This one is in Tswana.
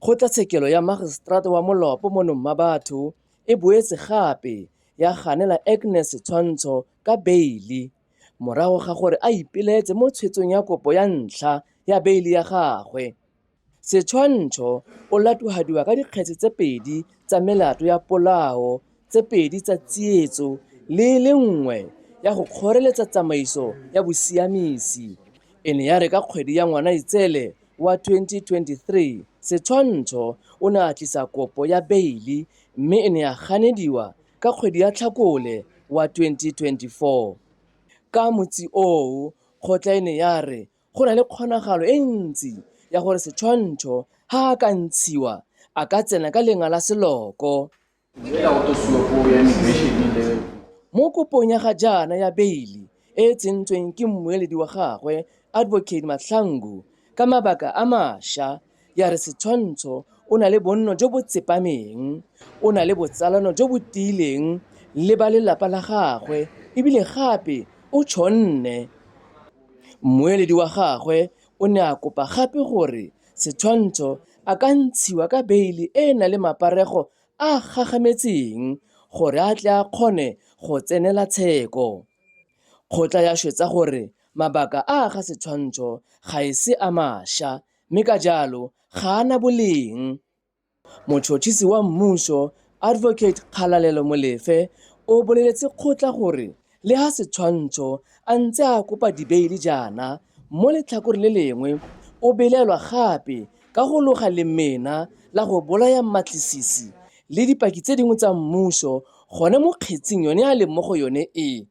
Kgotlatshekelo ya Magiseterata wa Molopo mo Nommabatho e boetse gape ya ganela Agnes Tshwantsho ka beile morago ga gore a ipelaetse mo tshwetsong ya kopo ya ntlha ya beile ya gagwe. Setshwantsho o latogadiwa ka dikgetse tse pedi tsa melato ya polao tse pedi tsa tsietso le e le nngwe ya go kgoreletsa tsamaiso ya bosiamisi e ne ya re ka kgwedi ya Ngwanaitseele wa 2023, Setshwantsho o ne a tlisa kopo ya beili mme e ne ya ganediwa ka kgwedi ya Tlhakole wa 2024. Ka motsi oo, kgotla e ne ya re go na le kgonagalo e ntsi ya gore Setshwantsho ga a ka ntshiwa a ka tsena ka lengala seloko. Mo kopong ya ga jaana ya beili e e tsentsweng ke mmueledi wa gagwe, Advocate Mahlangu, ka mabaka a masha, ya re Setshwantsho o na le bonno jo bo tsepameng, o na le botsalano jo bo tiileng le ba lelapa la gagwe e bile gape o tshonne. Mmueledi wa gagwe o ne a kopa gape gore Setshwantsho, A ka ntshiwa ka beile e e nang le maparego a a gagametseng gore a tle a kgone go tsenela tsheko? Kgotla ya swetsa gore mabaka a a ga setshwantsho ga e se a masha mme ka jalo ga a na boleng. Motšhotšhisi wa mmušo, Advocate Kgalalelo Molefe, o boleletse kgotla gore le ha Setshwantsho a ntse a kopa dibeili jaana, mo letlhakoreng le lengwe o belaelwa gape ka go loga lemena la go bolaya mmatlisisi le dipaki tse dingwe tsa mmušo gone mo kgetsing yone a leng mo go yone e.